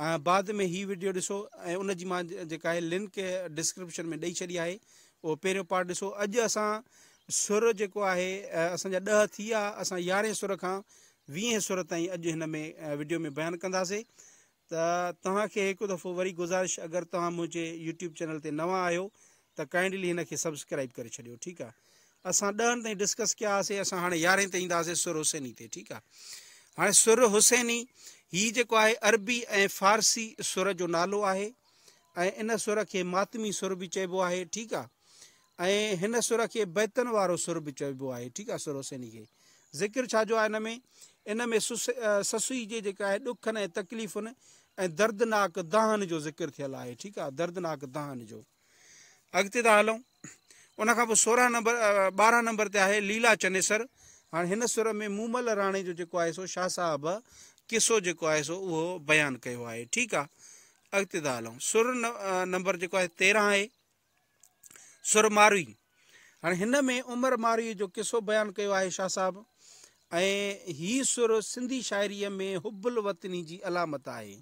۽ بعد ۾ هي وڊيو ڏسو ۽ ان جي مان جيڪا آهي لنڪ ڊسڪرپشن ۾ ڏئي ڇڏي آهي اهو پهريون پارٽ ڏسو اڄ اسان سر جيڪو آهي اسان جا ڏهه ٿي ويا اسان يارهين سر کان ويهين سر تائين اڄ هن ۾ وڊيو ۾ بيان ڪنداسي ته توهان کي هڪ دفعو وري گزارش اگر توهان منهنجي يوٽيوب چينل تي نوان آهيو ته ڪائنڊلي هن کي سبسڪرائيب ڪري ڇڏيو ٺيڪ آ اسان ڏهن تائين ڊسڪس ڪيا هاسي اسان هاڻي يارهين تي اينداسي سر حسيني تي ٺيڪ آ هاڻي سر حسيني هي جيڪو آهي عربي ۽ فارسي سر جو نالو آهي ۽ ان سر کي ماتمي سر به چئبو آهي ٺيڪ آ ۽ هن سر کي بيتن وارو سر به چئبو آهي ٺيڪ آ سر حسيني کي ذڪر ڇا جو آهي هن ۾ ان ۾ سسئي جي جيڪا آهي ڏکن ۽ تڪليفن ۽ دردناڪ دانهن جو ذڪر ٿيل آهي ٺيڪ آ دردناڪ دانهن جو اڳتي ٿا هلون ان کان پوء سورهن نمبر ٻارهن نمبر تي آهي ليلا چنيسر هاڻي هن سر ۾ مومل راڻي جو جيڪو آهي سو شاهه صاحب قصو جيڪو آهي سو اهو بيان ڪيو آهي ٺيڪ آ اڳتي ٿا هلون سر نمبر جيڪو آهي تيرهن آهي سر ماروي هاڻي هن ۾ عمر مارئي جو قصو بيان ڪيو آهي شاهه صاحب ۽ هي سر سنڌي شاعريء ۾ حب الوطني جي علامت آهي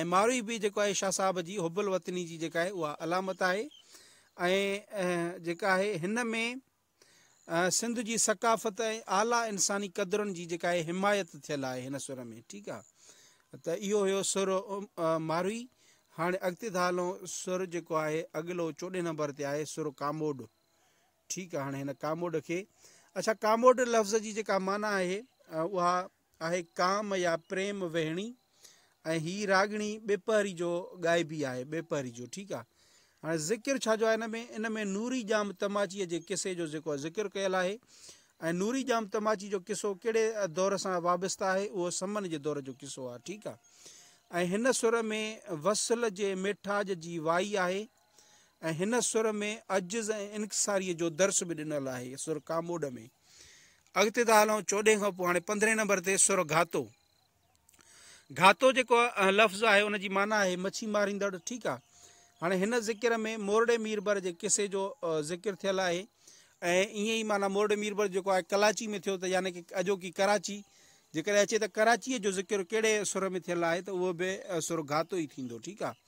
۽ مارئي به جيڪو آهي شاهه صاحب جي حب الوطني جي جيڪا آهي اها علامت آهي ۽ جيڪا آهي هن ۾ سنڌ جي ثقافت ۽ اعليٰ انساني قدرن جي جيڪا آهي حمايت ٿيل آهي هن سر ۾ ٺيڪ آهي ته اهو هيو سر ماروي هاڻي اڳتي ٿا هلون سر جيڪو آهي اڳلو چوڏهين نمبر تي آهي سر ڪاموڏ ٺيڪ آهي هاڻي هن ڪاموڏ کي اڇا ڪاموڏ لفظ جي جيڪا معنيٰ آهي اها آهي ڪام يا پريم وهڻي ۽ هي راڳڻي ٻيپهري جو ڳائبي آهي ٻيپهري جو ٺيڪ آهي هاڻي ذڪر ڇا جو آهي ان ۾؟ ان ۾ نوري ڄام تماچيء جي قصي جو جيڪو ذڪر ڪيل آهي ۽ نوري ڄام تماچي جو قصو ڪهڙي دور سان وابسته آهي اهو سمن جي دور جو قصو آهي ٺيڪ آهي ۽ هن سر ۾ وصل جي ميٺاج جي وائي آهي ۽ هن سر ۾ عجز ۽ انڪساريء جو درس به ڏنل آهي سر ڪاموڏ ۾ اڳتي ٿا هلون چوڏهين کان پوء هاڻي پندرهين نمبر تي سر گهاتو گهاتو جيڪو لفظ آهي ان جي معنيٰ آهي مڇي ماريندڙ ٺيڪ آهي هاڻي هن ذڪر ۾ مورڙي ميربر جي قصي جو ذڪر ٿيل آهي ۽ ائين ئي معنيٰ مورڙي ميربر جيڪو آهي ڪلاچي ۾ ٿيو ته يعني ڪي اڄوڪي ڪراچي جيڪڏهن اچي ته ڪراچيء جو ذڪر ڪهڙي سر ۾ ٿيل آهي ته اهو به سر گهاتو ئي ٿيندو ٺيڪ آهي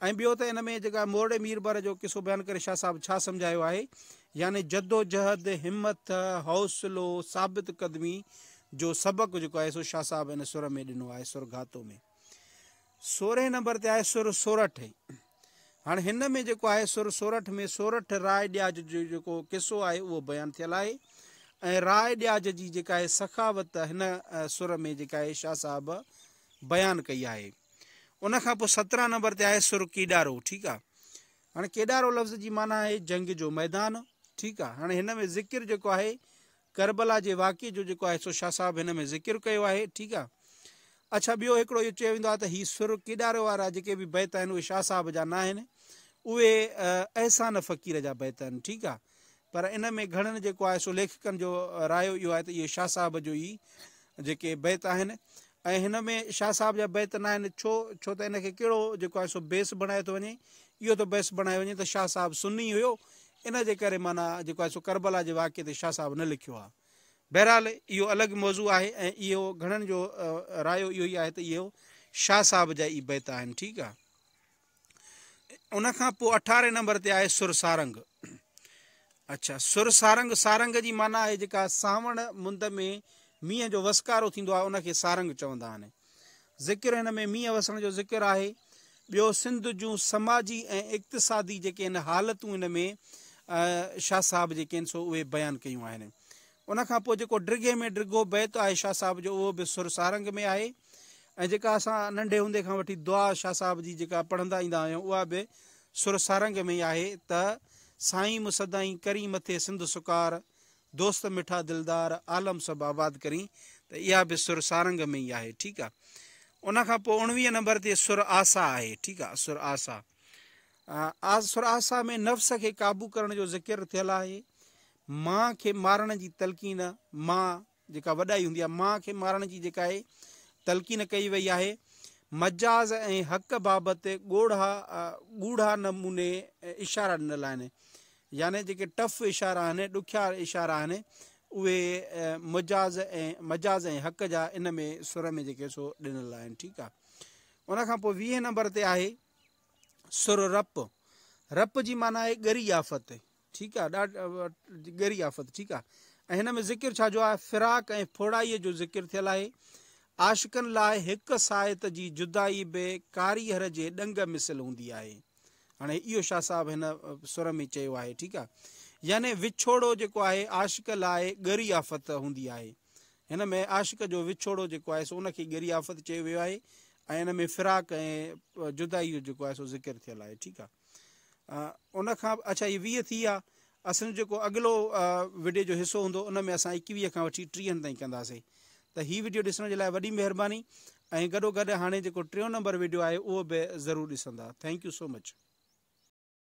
۽ ٻيو ته ان ۾ جيڪا مورڙي مير بر جو قصو بيان ڪري شاهه صاحب ڇا سمجهايو آهي يعني جدوجهد، همٿ، حوصلو، ثابت قدمي جو سبق جيڪو آهي سو شاهه صاحب ان سر ۾ ڏنو آهي سر گهاتو ۾ سورهين نمبر تي آهي سر سورٺ هاڻي هن ۾ جيڪو آهي سر سورٺ ۾ سورٺ راء ڏياج جو جيڪو قصو آهي اهو بيان ٿيل آهي ۽ راء ڏياج جي جيڪا آهي سخاوت هن سر ۾ جيڪا آهي شاهه صاحب بيان ڪئي آهي ان کان پوء سترهن نمبر تي آهي سر ڪيڏارو ٺيڪ آهي هاڻي ڪيڏارو لفظ جي معنی آهي جنگ جو ميدان ٺيڪ آهي هاڻي هن ۾ ذڪر جيڪو آهي کربلا جي واقعي جو جيڪو آهي سو شاهه صاحب هن ۾ ذڪر ڪيو آهي ٺيڪ آهي اچھا ٻيو هڪڙو اهو چيو ويندو آهي ته هي سر ڪيڏارو وارا جيڪي به بيت آهن اهي شاهه صاحب جا ناهن اهي احسان فقير جا بيت آهن ٺيڪ آهي پر ان ۾ گهڻن جيڪو آهي سو ليکڪن جو رايو اهو آهي ته اهي شاهه صاحب جو ئي جيڪي بيت آهن ۽ هن ۾ شاهه صاحب جا بيت ناهن ڇو ڇو ته ان کي ڪهڙو جيڪو آهي سو بيس بڻايو ٿو وڃي اهو ٿو بيس بڻايو وڃي ته شاهه صاحب سني هيو ان جي ڪري معنيٰ جيڪو آهي سو ڪربلا جي واقعي تي شاهه صاحب نه لکيو آهي بهرحال اهو الڳ موضوع آهي ۽ اهو گهڻن جو رايو اهو ئي آهي ته اهو شاهه صاحب جا ئي بيت آهن ٺيڪ آهي ان کان پوء اٺارهين نمبر تي آهي سر سارنگ اچھا سر سارنگ سارنگ جي معنی آهي جيڪا ساوڻ مند ۾ مينهن جو وسڪارو ٿيندو آهي ان کي سارنگ چوندا آهن ذڪر هن ۾ مينهن وسڻ جو ذڪر آهي ٻيو سنڌ جون سماجي ۽ اقتصادي جيڪي آهن حالتون ان ۾ شاهه صاحب جيڪي آهن سو اهي بيان ڪيون آهن ان کان پوء جيڪو ڊگهي ۾ ڊگهو بيت آهي شاهه صاحب جو اهو به سر سارنگ ۾ آهي ۽ جيڪا اسان ننڍي هوندي کان وٺي دعا شاهه صاحب جي جيڪا پڙهندا ايندا آهيون اها به سر سارنگ ۾ ئي آهي ته سائين مون سدائين ڪرين مٿي سنڌ سڪار دوست مٺا دلدار عالم سڀ آباد ڪرين ته اها به سر سارنگ ۾ ئي آهي ٺيڪ آ ان کان پوء اڻويهه نمبر تي سر آسا آهي ٺيڪ آ سر آسا سر آسا ۾ نفس کي قابو ڪرڻ جو ذڪر ٿيل آهي ماء کي مارڻ جي تلقين، ماء جيڪا وڏائي هوندي آهي، ماء کي مارڻ جي جيڪا اهي تلقين ڪئي وئي آهي، مجاز ۽ حق بابت ڳوڙها ڳوڙها نموني اشارا ڏنل آهن. يعني جيڪي ٽف اشارا آهن، ڏکيا اشارا آهن، اهي مجاز ۽ مجاز ۽ حق جا ان ۾ سر ۾ جيڪي سو ڏنل آهن. ٺيڪ آهي. ان کان پوء ويهين نمبر تي آهي سر رپ. رپ جي معنيٰ آهي ڳري آفت. ٺيڪ آ ڏاڍ ڳري آفت ٺيڪ آ ۽ هن ۾ ذڪر ڇا جو آهي فراق ۽ ڦوڙائي جو ذڪر ٿيل آهي عاشقن لاء هڪ ساعت جي جدائي به ڪاريهر جي ڏنگ مثل هوندي آهي هاڻي اهو شاهه صاحب هن سر ۾ چيو آهي ٺيڪ آ يعني وڇوڙو جيڪو آهي عاشق لاء ڳري آفت هوندي آهي هن ۾ عاشق جو وڇوڙو جيڪو آهي سو ان کي ڳري آفت چيو ويو آهي ۽ ان ۾ فراق ۽ جدائي جو جيڪو آهي سو ذڪر ٿيل آهي ٺيڪ آ ان کان اڇا هي ويهه ٿي ويا اسان جيڪو اڳلو وڊيو جو حصو هوندو ان ۾ اسان ايڪويهه کان وٺي ٽيهن تائين ڪنداسي ته هي وڊيو ڏسڻ جي لاء وڏي مهرباني ۽ گڏو گڏ هاڻي جيڪو ٽيون نمبر وڊيو آهي اهو به ضرور ڏسندا ٿينڪ يو سو مچ